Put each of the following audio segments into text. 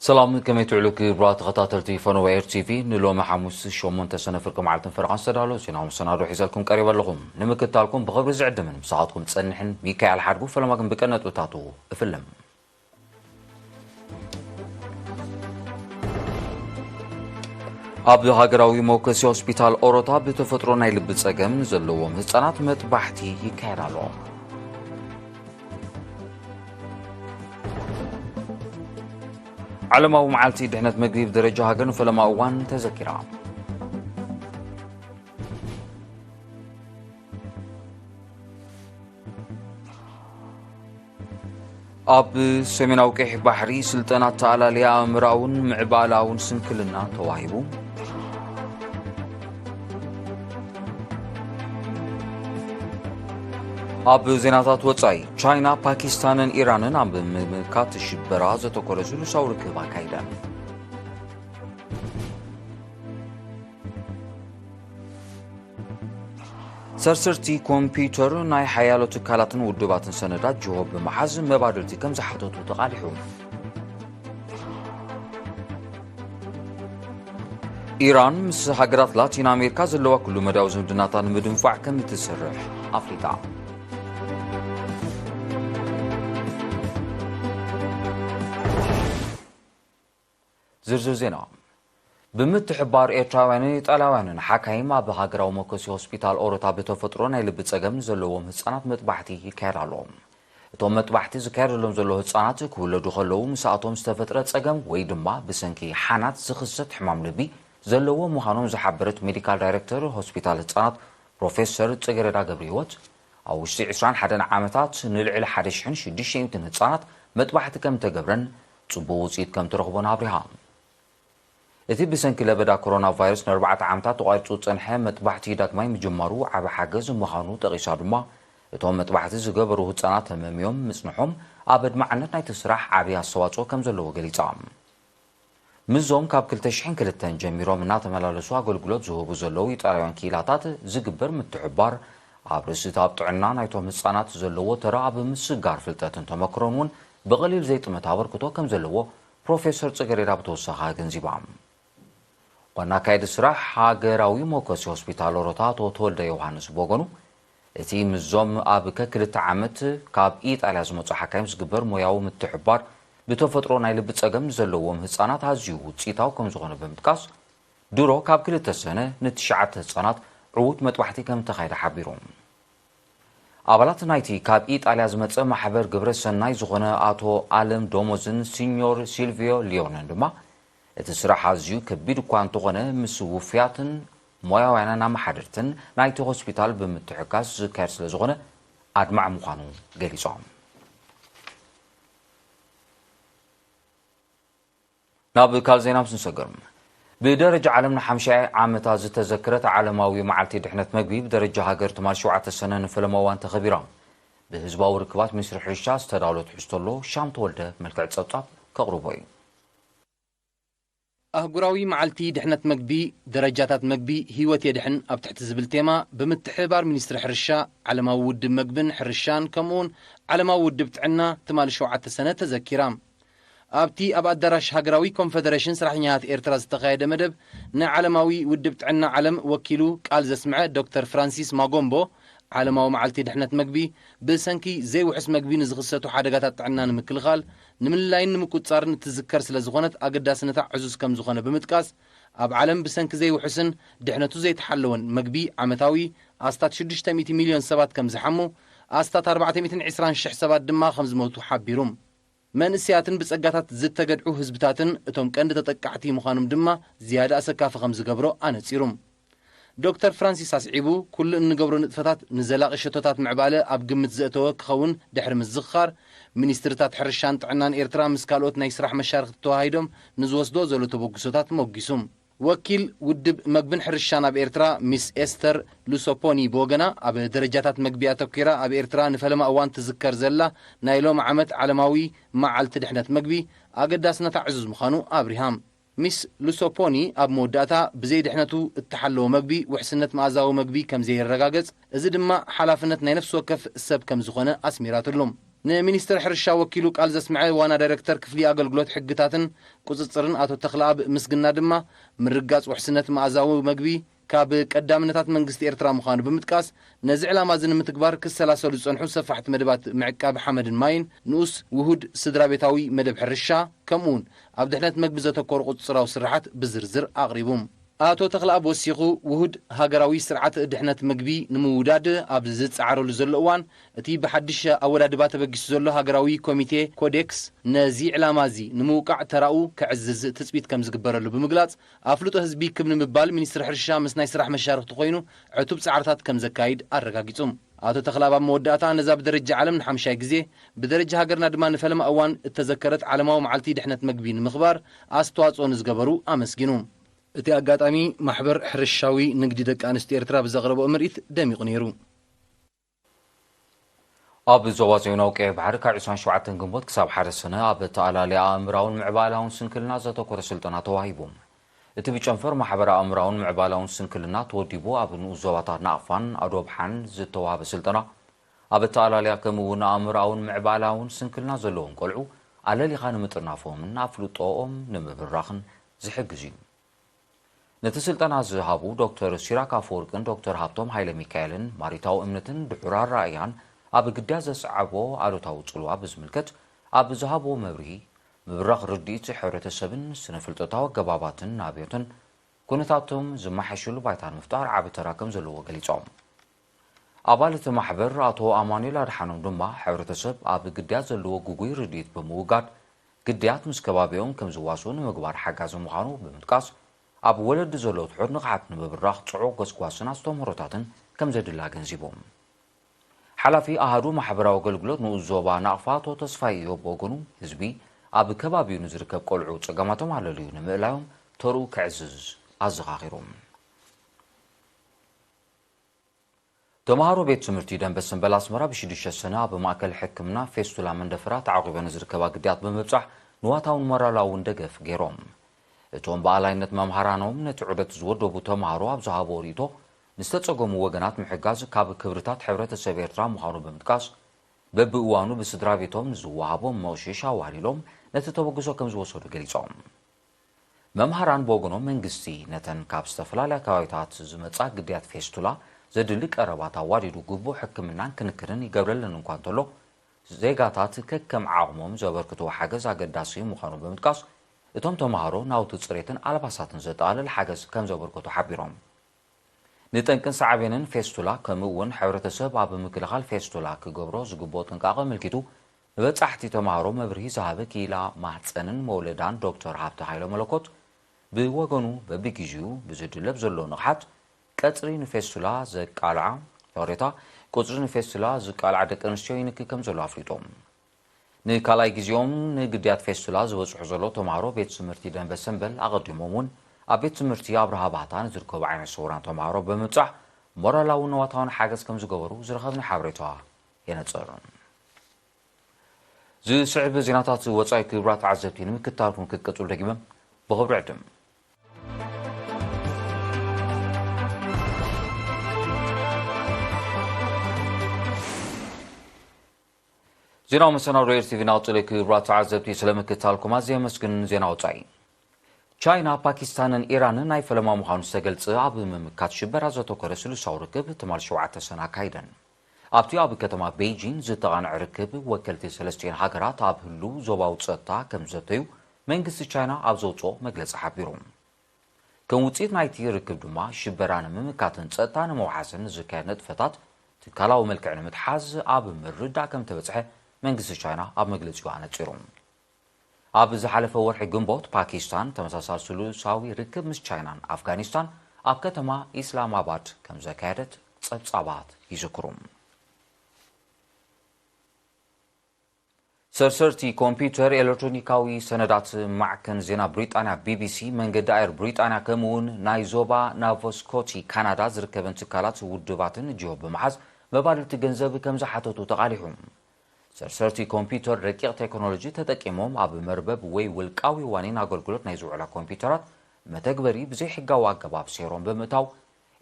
ሰላም ከመይ ትዕሉ ክብራ ተኸታተልቲ ፈነወ ኤር ቲቪ ንሎሚ ሓሙስ ሸሞንተ ሰነ ፍርቂ መዓልትን ፈረቓን ዝተዳለወ ዜናዊ መሰናዶ ሒዘልኩም ቀሪበ ኣለኹም ንምክታልኩም ብኽብሪ ዝዕድምን ምሳኻትኩም ጸንሕን ሚካኤል ሓድጉ ፈለማ ግን ብቀነጥብታቱ እፍልም ኣብ ሃገራዊ መውከሲ ሆስፒታል ኦሮታ ብተፈጥሮ ናይ ልቢ ጸገም ዘለዎም ህፃናት መጥባሕቲ ይካየድ ኣሎ ዓለማዊ መዓልቲ ድሕነት ምግቢ ብደረጃ ሃገር ንፈለማ እዋን ተዘኪራ ኣብ ሰሜናዊ ቀይሕ ባሕሪ ስልጠና ኣተኣላልያ ኣእምራውን ምዕባላውን ስንክልና ተዋሂቡ። ኣብ ዜናታት ወፃኢ ቻይና ፓኪስታንን ኢራንን ኣብ ምምካት ሽበራ ዘተኮረ ስሉሳዊ ርክብ ኣካይደን። ሰርሰርቲ ኮምፒዩተር ናይ ሓያሎ ትካላትን ውድባትን ሰነዳት ጅሆ ብምሓዝ መባድርቲ ከም ዝሓተቱ ተቓሊሑ ኢራን ምስ ሃገራት ላቲን ኣሜሪካ ዘለዋ ኩሉ መዳዊ ዝምድናታ ንምድንፋዕ ከም እትሰርሕ ኣፍሊጣ ዝርዝር ዜና ብምትሕብባር ኤርትራውያንን ኢጣልያውያንን ሓካይም ኣብ ሃገራዊ መኮሲ ሆስፒታል ኦሮታ ብተፈጥሮ ናይ ልቢ ጸገም ንዘለዎም ህጻናት መጥባሕቲ ይካየድ ኣሎ። እቶም መጥባሕቲ ዝካየደሎም ዘሎ ህጻናት ክውለዱ ከለዉ ምስኣቶም ዝተፈጥረ ጸገም ወይ ድማ ብሰንኪ ሓናት ዝኽሰት ሕማም ልቢ ዘለዎም ምዃኖም ዝሓበረት ሜዲካል ዳይረክተር ሆስፒታል ህጻናት ፕሮፌሰር ጽጌረዳ ገብረህይወት ኣብ ውሽጢ ዕስራን ሓደን ዓመታት ንልዕሊ ሓደ ሽሕን ሽዱሽተ ሚእትን ህጻናት መጥባሕቲ ከም ተገብረን ጽቡቕ ውጽኢት ከም ትረኽቡን ኣብሪሃ። እቲ ብሰንኪ ለበዳ ኮሮናቫይረስ ንኣርባዕተ ዓመታት ተቋሪጹ ዝጸንሐ መጥባሕቲ ዳግማይ ምጅማሩ ዓቢ ሓገዝ ምዃኑ ጠቒሳ ድማ፣ እቶም መጥባሕቲ ዝገበሩ ህጻናት ተመምዮም ምጽንሖም ኣብ ኣድማዕነት ናይቲ ስራሕ ዓቢ ኣስተዋጽኦ ከም ዘለዎ ገሊጻ። ምስዞም ካብ ክልተ ሽሕን ክልተን ጀሚሮም እናተመላለሱ ኣገልግሎት ዝህቡ ዘለዉ ኢጣልያውያን ክኢላታት ዝግበር ምትሕብባር፣ ኣብ ርእሲ እቲ ኣብ ጥዕና ናይቶም ህጻናት ዘለዎ ተራ ኣብ ምስጋር ፍልጠትን ተመክሮን እውን ብቐሊል ዘይጥመት ኣበርክቶ ከም ዘለዎ ፕሮፌሰር ጽገሬዳ ብተወሳኺ ኣገንዚባ። ዋና ኣካየዲ ስራሕ ሃገራዊ መውከሲ ሆስፒታል ኦሮታ ኣቶ ተወልደ ዮውሃንስ ብወገኑ፣ እቲ ምስዞም ኣብ ከክልተ ዓመት ካብ ኢጣልያ ዝመጹ ሓካይም ዝግበር ሞያዊ ምትሕብባር፣ ብተፈጥሮ ናይ ልቢ ጸገም ንዘለዎም ህጻናት ኣዝዩ ውጽኢታዊ ከም ዝኾነ ብምጥቃስ፣ ድሮ ካብ ክልተ ሰነ ንትሽዓተ ህጻናት ዕዉት መጥባሕቲ ከም እተኻየደ ሓቢሩ። ኣባላት ናይቲ ካብ ኢጣልያ ዝመጸ ማሕበር ግብረ ሰናይ ዝኾነ ኣቶ ኣለም ዶሞዝን ሲኞር ሲልቪዮ ሊዮንን ድማ እቲ ስራሕ ኣዝዩ ከቢድ እኳ እንተኾነ ምስ ውፉያትን ሞያውያንን ኣመሓደርትን ናይቲ ሆስፒታል ብምትሕጋዝ ዝካየድ ስለዝኾነ ኣድማዒ ምዃኑ ገሊጾም። ናብ ካልእ ዜና ምስ ንሰገር፣ ብደረጃ ዓለም ንሓምሻይ ዓመታ ዝተዘክረት ዓለማዊ መዓልቲ ድሕነት መግቢ ብደረጃ ሃገር ትማል ሸውዓተ ሰነ ንፈለማ እዋን ተኸቢራ። ብህዝባዊ ርክባት ሚኒስትሪ ሕርሻ ዝተዳሎ ትሕዝቶ ኣሎ፣ ሻም ተወልደ ብመልክዕ ጸብጻብ ከቕርቦ እዩ። ኣህጉራዊ መዓልቲ ድሕነት መግቢ፣ ደረጃታት መግቢ ህይወት የድሕን ኣብ ትሕቲ ዝብል ቴማ ብምትሕብባር ሚኒስትሪ ሕርሻ፣ ዓለማዊ ውድብ መግብን ሕርሻን ከምኡ'ውን ዓለማዊ ውድብ ጥዕና ትማል ሸውዓተ ሰነ ተዘኪራ። ኣብቲ ኣብ ኣዳራሽ ሃገራዊ ኮንፈደረሽን ሰራሕተኛታት ኤርትራ ዝተኻየደ መደብ ንዓለማዊ ውድብ ጥዕና ዓለም ወኪሉ ቃል ዘስምዐ ዶክተር ፍራንሲስ ማጎምቦ፣ ዓለማዊ መዓልቲ ድሕነት መግቢ ብሰንኪ ዘይውሑስ መግቢ ንዝኽሰቱ ሓደጋታት ጥዕና ንምክልኻል፣ ንምልላይን ንምቁጽጻርን እትዝከር ስለዝኾነት ኣገዳስነታ ዕዙዝ ከምዝኾነ ብምጥቃስ፣ ኣብ ዓለም ብሰንኪ ዘይውሑስን ድሕነቱ ዘይተሓለወን መግቢ ዓመታዊ ኣስታት ሽዱሽተ ሚእቲ ሚልዮን ሰባት ከምዝሓሙ፣ ኣስታት ኣርባዕተ ሚእትን ዕስራን ሽሕ ሰባት ድማ ከምዝሞቱ ሓቢሩ። መንእሰያትን ብጸጋታት ዝተገድዑ ህዝብታትን እቶም ቀንዲ ተጠቃዕቲ ምዃኖም ድማ ዝያዳ ኣሰካፊ ከም ዝገብሮ ኣነጺሩ። ዶክተር ፍራንሲስ ኣስዒቡ፣ ኩሉ እንገብሮ ንጥፈታት ንዘላቒ ሸቶታት ምዕባለ ኣብ ግምት ዘእተወ ክኸውን ድሕሪ ምዝኽኻር፣ ሚኒስትሪታት ሕርሻን ጥዕናን ኤርትራ ምስ ካልኦት ናይ ስራሕ መሻርኽቲ ተወሃሂዶም ንዝወስድኦ ዘሎ ተበግሶታት ሞጒሱ። ወኪል ውድብ መግብን ሕርሻን ኣብ ኤርትራ ሚስ ኤስተር ሉሶፖኒ ብወገና፣ ኣብ ደረጃታት መግቢ ኣተኲራ ኣብ ኤርትራ ንፈለማ እዋን ትዝከር ዘላ ናይ ሎሚ ዓመት ዓለማዊ መዓልቲ ድሕነት መግቢ፣ ኣገዳስነታ ዕዙዝ ምዃኑ ኣብሪሃ። ሚስ ሉሶፖኒ ኣብ መወዳእታ፣ ብዘይ ድሕነቱ እተሓለወ መግቢ ውሕስነት መኣዛዊ መግቢ ከምዘይረጋገጽ፣ እዚ ድማ ሓላፍነት ናይ ነፍሲ ወከፍ ሰብ ከምዝኾነ ኣስሚራትሉ። ንሚኒስትር ሕርሻ ወኪሉ ቃል ዘስምዐ ዋና ዳይረክተር ክፍሊ ኣገልግሎት ሕግታትን ቁፅፅርን ኣቶ ተኽለኣብ ምስግና ድማ ምርግጋፅ ውሕስነት መኣዛዊ መግቢ ካብ ቀዳምነታት መንግስቲ ኤርትራ ምዃኑ ብምጥቃስ ነዚ ዕላማ እዚ ንምትግባር ክሰላሰሉ ዝፀንሑ ሰፋሕቲ መደባት ምዕቃብ ሓመድን ማይን ንኡስ ውሁድ ስድራቤታዊ መደብ ሕርሻ ከምኡውን ኣብ ድሕነት መግቢ ዘተኮሩ ቁፅፅራዊ ስርሓት ብዝርዝር ኣቕሪቡ። ኣቶ ተኽለኣብ ወሲኹ፣ ውሁድ ሃገራዊ ስርዓት ድሕነት ምግቢ ንምውዳድ ኣብ ዝጸዓረሉ ዘሎ እዋን፣ እቲ ብሓድሽ ኣወዳድባ ተበጊሱ ዘሎ ሃገራዊ ኮሚቴ ኮዴክስ፣ ነዚ ዕላማ'ዚ ንምውቃዕ ተራኡ ከዕዝዝ ትጽቢት ከም ዝግበረሉ ብምግላጽ፣ ኣፍልጦ ህዝቢ ክብ ንምባል ሚኒስትሪ ሕርሻ ምስ ናይ ስራሕ መሻርኽቱ ኮይኑ ዕቱብ ጻዕርታት ከም ዘካይድ ኣረጋጊጹ። ኣቶ ተኽላብ ኣብ መወዳእታ ነዛ ብደረጃ ዓለም ንሓምሻይ ግዜ፣ ብደረጃ ሃገርና ድማ ንፈለማ እዋን እተዘከረት ዓለማዊ መዓልቲ ድሕነት መግቢ ንምኽባር ኣስተዋጽኦ ንዝገበሩ ኣመስጊኑ። እቲ ኣጋጣሚ፣ ማሕበር ሕርሻዊ ንግዲ ደቂ ኣንስትዮ ኤርትራ ብዘቕረበኦ ምርኢት ደሚቑ ነይሩ። ኣብ ዞባ ዞዮናዊ ቀይሕ ባሕሪ ካብ ዕስራን ሸውዓተን ግንቦት ክሳብ ሓደ ሰነ ኣብ ኣተኣላልያ ኣእምራውን ምዕባላውን ስንክልና ዘተኮረ ስልጠና ተዋሂቡ። እቲ ብጨንፈር ማሕበረ ኣእምራውን ምዕባላውን ስንክልና ተወዲቡ ኣብ ንኡስ ዞባታት ናቕፋን ኣዶብሓን ዝተዋህበ ስልጠና፣ ኣብ ኣተኣላልያ ከምኡ እውን ኣእምሮኣውን ምዕባላውን ስንክልና ዘለዎም ቆልዑ ኣለሊኻ ንምጥርናፎምን ኣፍልጦኦም ንምብራኽን ዝሕግዝ እዩ። ነቲ ስልጠና ዝሃቡ ዶክተር ሲራክ ኣፈወርቅን ዶክተር ሃብቶም ሃይለሚካኤልን ማሪታዊ እምነትን ድሑር ኣረኣእያን ኣብ ግዳ ዘስዓቦ ኣሉታዊ ፅልዋ ብዝምልከት ኣብ ዝሃብዎ መብርሂ ምብራኽ ርድኢት ሕብረተሰብን ስነፍልጠታዊ ኣገባባትን ናብዮትን ኩነታቶም ዝመሓየሸሉ ባይታ ንምፍጣር ዓቢ ተራ ከም ዘለዎ ገሊጾም። ኣባል እቲ ማሕበር ኣቶ ኣማኑኤል ኣድሓኖም ድማ ሕብረተሰብ ኣብ ግዳያት ዘለዎ ግጉይ ርድኢት ብምውጋድ ግዳያት ምስ ከባቢኦም ከም ዝዋስኡ ንምግባር ሓጋዚ ምዃኑ ብምጥቃስ ኣብ ወለዲ ዘሎ ትሑት ንቕሓት ንምብራኽ ጽዑቕ ጎስጓስን ኣስተምህሮታትን ከም ዘድሊ ኣገንዚቦም። ሓላፊ ኣሃዱ ማሕበራዊ ኣገልግሎት ንኡስ ዞባ ናቕፋ ኣቶ ተስፋይ እዮብ ብወገኑ፣ ህዝቢ ኣብ ከባቢኡ ንዝርከብ ቆልዑ ጸገማቶም ኣለልዩ ንምእላዮም ተርኡ ከዕዝዝ ኣዘኻኺሩ። ተመሃሮ ቤት ትምህርቲ ደንበ ስምበል ኣስመራ ብሽዱሽተ ሰነ ኣብ ማእከል ሕክምና ፌስቱላ መንደፈራ ተዓቝበን ዝርከባ ግዳያት ብምብጻሕ ንዋታውን ሞራላውን ደገፍ ገይሮም። እቶም ብኣላይነት መምሃራኖም ነቲ ዑደት ዝወደቡ ተመሃሮ ኣብ ዝሃብዎ ርእይቶ፣ ንዝተፀገሙ ወገናት ምሕጋዝ ካብ ክብርታት ሕብረተሰብ ኤርትራ ምዃኑ ብምጥቃስ፣ በብእዋኑ ብስድራቤቶም ንዝወሃቦም መቕሽሽ ኣዋህሊሎም ነቲ ተበግሶ ከምዝወሰዱ ገሊፆም። መምሃራን ብወገኖም መንግስቲ ነተን ካብ ዝተፈላለያ ከባቢታት ዝመፃ ግዳያት ፌስቱላ ዘድሊ ቀረባት ኣዋዲዱ ግቡእ ሕክምናን ክንክንን ይገብረለን እኳ እንተሎ ዜጋታት ከከም ዓቕሞም ዘበርክትዎ ሓገዝ ኣገዳሲ ምዃኑ ብምጥቃስ እቶም ተምሃሮ ናውቲ ፅሬትን ኣልባሳትን ዘጠቓልል ሓገዝ ከምዘበርከቱ ሓቢሮም። ንጠንቅን ሳዕቤንን ፌስቱላ ከምኡ እውን ሕብረተሰብ ኣብ ምክልኻል ፌስቱላ ክገብሮ ዝግብኦ ጥንቃቐ ኣመልኪቱ ንበፃሕቲ ተምሃሮ መብርሂ ዝሃበ ክኢላ ማህፀንን መውለዳን ዶክተር ሃብተ ሃይለመለኮት ብወገኑ በቢጊዚኡ ብዝድለብ ዘሎ ንቕሓት ቀፅሪ ንፌስቱላ ዘቃልዓ ይቕሬታ፣ ቁፅሪ ንፌስቱላ ዝቃልዓ ደቂ ኣንስትዮ ይንኪ ከምዘሎ ኣፍሊጡ። ንካልኣይ ግዜኦም ንግድያት ፌስቱላ ዝበጽሑ ዘሎ ተማሃሮ ቤት ትምህርቲ ደንበ ሰምበል ኣቐዲሞም እውን ኣብ ቤት ትምህርቲ ኣብርሃ ባህታ ንዝርከቡ ዓይነ ስውራን ተማሃሮ ብምብጻሕ ሞራላውን ንዋታውን ሓገዝ ከም ዝገበሩ ዝረኸብና ሓበሬታ የነጽር። ዝስዕብ ዜናታት ወጻኢ ክቡራት ተዓዘብቲ ንምክትታልኩም ክትቅጽሉ ደጊመ ብኽብሪ ዕድም ዜናዊ መሰናዶ ኤርቲቪ ናብ ጥልይ ክብራ ተዓዘብቲ ስለምክታልኩም ኣዝየ የመስግን ዜና ወፃኢ ቻይና ፓኪስታንን ኢራንን ናይ ፈለማ ምዃኑ ዝተገልጸ ኣብ ምምካት ሽበራ ዘተኮረ ስሉሳዊ ርክብ ትማል ሸውዓተ ሰነ ኣካይደን ኣብቲ ኣብ ከተማ ቤይጂን ዝተቓንዐ ርክብ ወከልቲ ሰለስቲኤን ሃገራት ኣብ ህሉው ዞባዊ ጸጥታ ከም ዘተዩ መንግስቲ ቻይና ኣብ ዘውጽኦ መግለጺ ሓቢሩ ከም ውፅኢት ናይቲ ርክብ ድማ ሽበራ ንምምካትን ፀጥታ ንምውሓስን ንዝካየድ ንጥፈታት ትካላዊ መልክዕ ንምትሓዝ ኣብ ምርዳእ ከምተበፅሐ መንግስቲ ቻይና ኣብ መግለፂኡ ኣነፂሩ። ኣብ ዝሓለፈ ወርሒ ግንቦት ፓኪስታን ተመሳሳሊ ስሉሳዊ ርክብ ምስ ቻይናን ኣፍጋኒስታን ኣብ ከተማ ኢስላማባድ ከምዘካየደት ፀብፃባት ይዝክሩ። ሰርሰርቲ ኮምፒዩተር፣ ኤለክትሮኒካዊ ሰነዳት፣ ማዕከን ዜና ብሪጣንያ ቢቢሲ፣ መንገዲ ኣየር ብሪጣንያ ከምኡ'ውን ናይ ዞባ ናቮስኮቲ ካናዳ ዝርከበን ትካላት ውድባትን ጅሆ ብምሓዝ መባልቲ ገንዘብ ከምዝሓተቱ ተቓሊሑ። ሰርሰርቲ ኮምፒዩተር ረቂቕ ቴክኖሎጂ ተጠቂሞም ኣብ መርበብ ወይ ውልቃዊ ዋኒን ኣገልግሎት ናይ ዝውዕላ ኮምፒዩተራት መተግበሪ ብዘይሕጋዊ ኣገባብ ሴሮም ብምእታው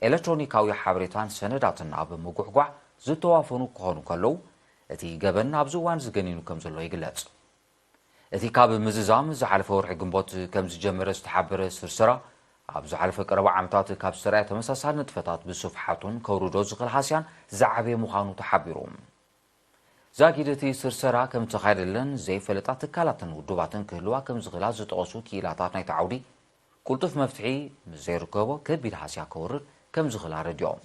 ኤለክትሮኒካዊ ሓበሬታን ሰነዳትን ኣብ ምጉሕጓሕ ዝተዋፈኑ ክኾኑ ከለዉ፣ እቲ ገበን ኣብዚ እዋን'ዚ ገኒኑ ከምዘሎ ይግለጽ። እቲ ካብ ምዝዛም ዝሓለፈ ወርሒ ግንቦት ከምዝጀመረ ዝተሓበረ ስርስራ፣ ኣብ ዝሓለፈ ቀረባ ዓመታት ካብ ዝተራእየ ተመሳሳሊ ንጥፈታት ብስፍሓቱን ከውርዶ ዝኽእል ሃስያን ዝዓበየ ምዃኑ ተሓቢሩ። ዛጊድ እቲ ስርሰራ ከምዝተኻየደለን ዘይፈለጣ ትካላትን ውድባትን ክህልዋ ከምዝኽእላ ዝጠቐሱ ክኢላታት ናይቲ ዓውዲ፣ ቅልጡፍ መፍትሒ ምስ ዘይርከቦ ከቢድ ሃስያ ከውርድ ከምዝኽእል ኣረዲኦም።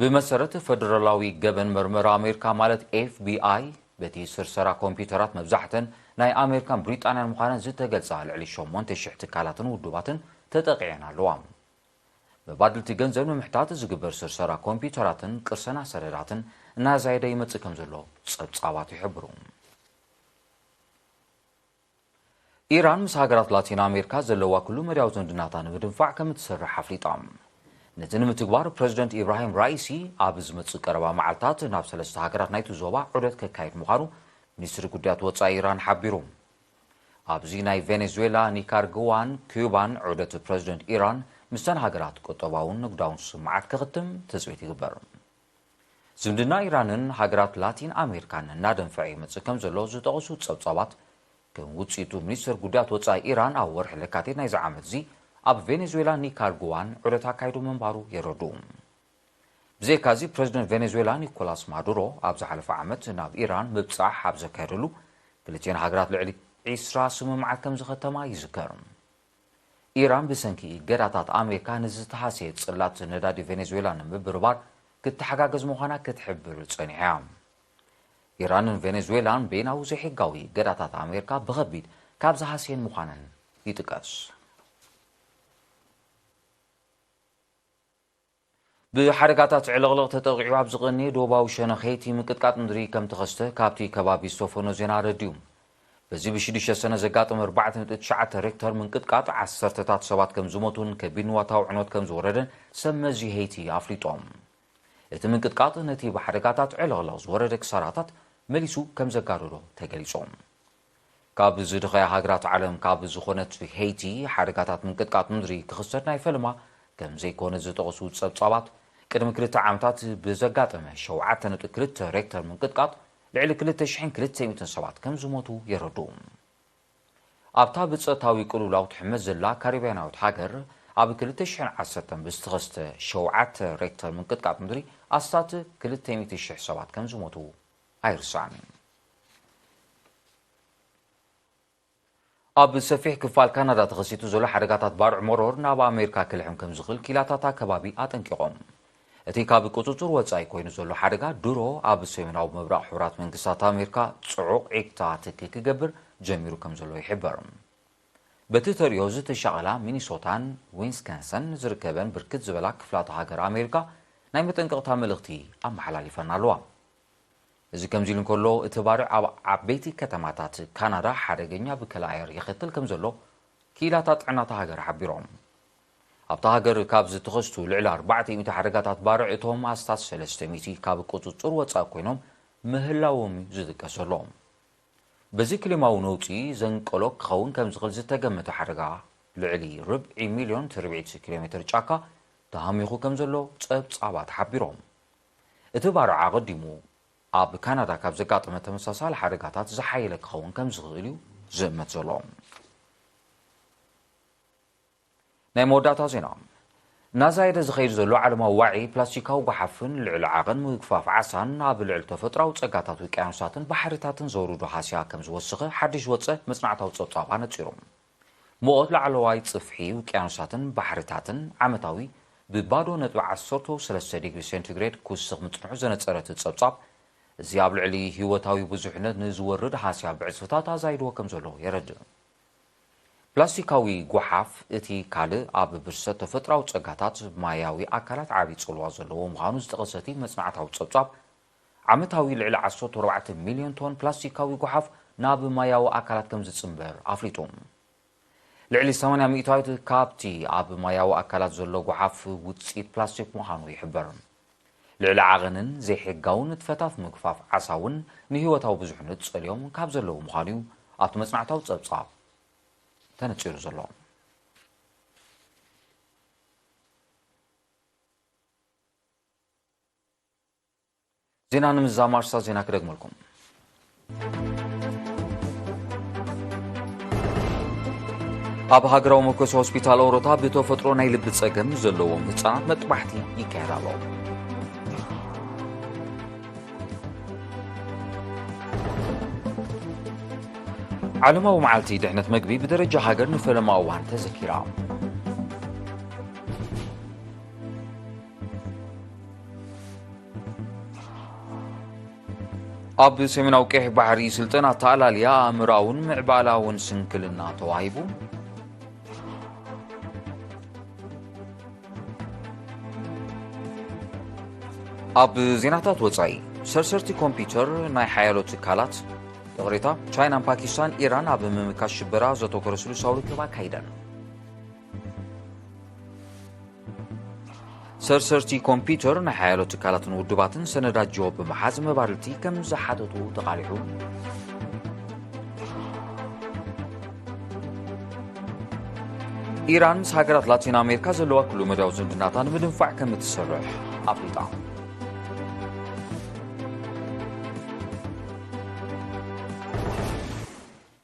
ብመሰረት ፈደራላዊ ገበን መርመራ ኣሜሪካ ማለት ኤፍቢኣይ፣ በቲ ስርሰራ ኮምፒዩተራት መብዛሕተን ናይ ኣሜሪካን ብሪጣንያን ምዃነን ዝተገልጻ ልዕሊ ሸሞንተ ሽሕ ትካላትን ውድባትን ተጠቒዐን ኣለዋ። መባድልቲ ገንዘብ ንምሕታት ዝግበር ስርሰራ ኮምፒዩተራትን ቅርሰና ሰነዳትን እናዛየደ ይመጽእ ከምዘሎ ጸብጻባት ይሕብሩ። ኢራን ምስ ሃገራት ላቲን ኣሜሪካ ዘለዋ ኩሉ መዳያዊ ዝምድናታ ንምድንፋዕ ከም እትሰርሕ ኣፍሊጣ። ነዚ ንምትግባር ፕረዚደንት ኢብራሂም ራኢሲ ኣብ ዝመጽእ ቀረባ መዓልታት ናብ ሰለስተ ሃገራት ናይቲ ዞባ ዑደት ከካይድ ምዃኑ ሚኒስትሪ ጉዳያት ወጻኢ ኢራን ሓቢሩ። ኣብዚ ናይ ቬኔዙዌላ፣ ኒካርግዋን ኲባን ዑደት ፕረዚደንት ኢራን፣ ምስተን ሃገራት ቁጠባውን ንግዳውን ስምምዓት ከኽትም ትጽቢት ይግበር። ዝምድና ኢራንን ሃገራት ላቲን ኣሜሪካን እናደንፈዐ ይመጽእ ከም ዘሎ ዝጠቕሱ ጸብጻባት፣ ከም ውጽኢቱ ሚኒስተር ጉዳያት ወጻኢ ኢራን ኣብ ወርሒ ለካቲት ናይዚ ዓመት'ዚ ኣብ ቬኔዙዌላን ኒካርጉዋን ዑደት ኣካይዱ ምንባሩ የረድኡ። ብዘይካ'ዚ ፕረዚደንት ቬኔዙዌላ ኒኮላስ ማዱሮ ኣብ ዝሓለፈ ዓመት ናብ ኢራን ምብጻሕ ኣብ ዘካየደሉ ክልቲኤን ሃገራት ልዕሊ ዒስራ ስምምዓት ከም ዝኸተማ ይዝከር። ኢራን ብሰንኪ እገዳታት ኣሜሪካ ንዝተሃስየ ጽላት ነዳዲ ቬኔዙዌላ ንምብርባር ክትተሓጋገዝ ምዃና ክትሕብር ጸኒሓ እያ። ኢራንን ቬኔዙዌላን በይናዊ ዘይሕጋዊ እገዳታት ኣሜሪካ ብኸቢድ ካብ ዝሃስየን ምዃነን ይጥቀስ። ብሓደጋታት ዕልቕልቕ ተጠቒዑ ኣብ ዝቐንየ ዶባዊ ሸነኼቲ ምቅጥቃጥ ምድሪ ከም ተኸስተ ካብቲ ከባቢ ዝተፈኖ ዜና ኣረዲኡ። በዚ ብሽዱሽተ ሰነ ዘጋጠመ ኣርባዕተ ነጥቢ ትሽዓተ ሬክተር ምንቅጥቃጥ ዓሰርተታት ሰባት ከም ዝሞቱን ከቢድ ንዋታዊ ዕንወት ከም ዝወረደን ሰብ መዚ ሄይቲ ኣፍሊጦም። እቲ ምንቅጥቃጥ ነቲ ብሓደጋታት ዕልቕልቕ ዝወረደ ክሳራታት መሊሱ ከም ዘጋደዶ ተገሊጹ። ካብ ዝድኸያ ሃገራት ዓለም ካብ ዝኾነት ሄይቲ ሓደጋታት ምንቅጥቃጥ ምድሪ ክኽሰት ናይ ፈለማ ከምዘይኮነ ዝጠቕሱ ጸብጻባት፣ ቅድሚ ክልተ ዓመታት ብዘጋጠመ ሸውዓተ ነጥቢ ክልተ ሬክተር ምንቅጥቃጥ ልዕሊ ክልተ ሽሕን ክልተ ሚእትን ሰባት ከምዝሞቱ የረድኡ። ኣብታ ብጸጥታዊ ቅልውላው ትሕመስ ዘላ ካሪብያናዊት ሃገር ኣብ ክልተ ሽሕን ዓሰርተን ብዝተኸስተ ሸውዓተ ሬክተር ምንቅጥቃጥ ምድሪ ኣስታት ክልተ ሚእቲ ሽሕ ሰባት ከምዝሞቱ ኣይርሳዕን። ኣብ ሰፊሕ ክፋል ካናዳ ተኸሲቱ ዘሎ ሓደጋታት ባርዕ መሮር ናብ ኣሜሪካ ክልሕም ከም ዝኽእል ኪላታታ ከባቢ ኣጠንቂቖም። እቲ ካብ ቁጽጽር ወጻኢ ኮይኑ ዘሎ ሓደጋ ድሮ ኣብ ሰሜናዊ ምብራቕ ሕቡራት መንግስታት ኣሜሪካ ጽዑቕ ዒግታ ትኪ ክገብር ጀሚሩ ከም ዘሎ ይሕበር። በቲ ተርእዮ ዝተሻቐላ ሚኒሶታን ዊንስከንሰን ዝርከበን ብርክት ዝበላ ክፍላተ ሃገር ኣሜሪካ ናይ መጠንቀቕታ መልእኽቲ ኣመሓላሊፈን ኣለዋ። እዚ ከምዚሉ እንከሎ፣ እቲ ባርዕ ኣብ ዓበይቲ ከተማታት ካናዳ ሓደገኛ ብከላ ኣየር የኸትል ከምዘሎ ክኢላታት ጥዕና እታ ሃገር ሓቢሮም። ኣብታ ሃገር ካብ ዝተኸስቱ ልዕሊ ኣርባዕተ ሚእቲ ሓደጋታት ባርዕ እቶም ኣስታት ሰለስተ ሚእቲ ካብ ቁጽጽር ወጻኢ ኮይኖም ምህላዎም'ዩ ዝጥቀስ ዘሎ። በዚ ክሊማዊ ነውጺ ዘንቀሎ ክኸውን ከምዝኽእል ዝተገመተ ሓደጋ ልዕሊ ርብዒ ሚልዮን ትርብዒት ኪሎሜተር ጫካ ተሃሚኹ ከምዘሎ ጸብጻባት ሓቢሮም። እቲ ባርዕ ኣቐዲሙ ኣብ ካናዳ ካብ ዘጋጠመ ተመሳሳሊ ሓደጋታት ዝሓየለ ክኸውን ከም ዝኽእል እዩ ዝእመት ዘሎ። ናይ መወዳእታ ዜና እናዛየደ ዝኸይድ ዘሎ ዓለማዊ ዋዒ ፕላስቲካዊ ጓሓፍን ልዕሊ ዓቐን ምግፋፍ ዓሳን ኣብ ልዕሊ ተፈጥሮኣዊ ጸጋታት ውቅያኖሳትን ባሕሪታትን ዘውርዶ ሃስያ ከም ዝወስኸ ሓድሽ ዝወጸ መጽናዕታዊ ጸብጻብ ኣነጺሩ። ሙቐት ላዕለዋይ ጽፍሒ ውቅያኖሳትን ባሕርታትን ዓመታዊ ብባዶ ነጥቢ ዓሰርተው ሰለስተ ዲግሪ ሴንቲግሬድ ክውስኽ ምጽንሑ ዘነጸረ እቲ ጸብጻብ፣ እዚ ኣብ ልዕሊ ህይወታዊ ብዙሕነት ንዝወርድ ሃስያ ብዕጽፍታት ኣዛይድዎ ከም ዘሎ የረድእ። ፕላስቲካዊ ጎሓፍ እቲ ካልእ ኣብ ብርሰት ተፈጥሮኣዊ ጸጋታት ማያዊ ኣካላት ዓቢ ጽልዋ ዘለዎ ምዃኑ ዝጠቐሰ እቲ መጽናዕታዊ ጸብጻብ፣ ዓመታዊ ልዕሊ ዓሰርተ ኣርባዕተ ሚልዮን ቶን ፕላስቲካዊ ጎሓፍ ናብ ማያዊ ኣካላት ከም ዝጽንበር ኣፍሊጡ። ልዕሊ ሰማንያ ሚእታዊት ካብቲ ኣብ ማያዊ ኣካላት ዘሎ ጎሓፍ ውጽኢት ፕላስቲክ ምዃኑ ይሕበር። ልዕሊ ዓቐንን ዘይሕጋዊ ንጥፈታት ምግፋፍ ዓሳ እውን ንህይወታዊ ብዙሕነት ጸልዮም ካብ ዘለዉ ምዃኑ'ዩ ኣብቲ መጽናዕታዊ ጸብጻብ ተነጺሩ ዘሎ። ዜና ንምዛም ኣርስታት ዜና ክደግመልኩም ኣብ ሃገራዊ መኮሲ ሆስፒታል ኦሮታ ብተፈጥሮ ናይ ልቢ ጸገም ዘለዎም ህፃናት መጥባሕቲ ይካየድ ኣሎ ዓለማዊ መዓልቲ ድሕነት መግቢ ብደረጃ ሃገር ንፈለማ እዋን ተዘኪራ ኣብ ሰሜናዊ ቀይሕ ባሕሪ ስልጠና ኣተኣላልያ ኣእምራውን ምዕባላውን ስንክልና ተዋሂቡ ኣብ ዜናታት ወፃኢ ሰርሰርቲ ኮምፒውተር ናይ ሓያሎ ትካላት ይቕሬታ ቻይናን ፓኪስታን ኢራን ኣብ ምምካት ሽበራ ዘተኮረ ስሉሳዊ ርክብ ኣካይደን ሰርሰርቲ ኮምፒዩተር ናይ ሓያሎ ትካላትን ውድባትን ሰነዳት ጆ ብምሓዝ መባልቲ ከም ዝሓተቱ ተቓሊሑ ኢራን ምስ ሃገራት ላቲን ኣሜሪካ ዘለዋ ኩሉ መዳዊ ዝምድናታ ንምድንፋዕ ከም እትሰርሕ ኣፍሊጣ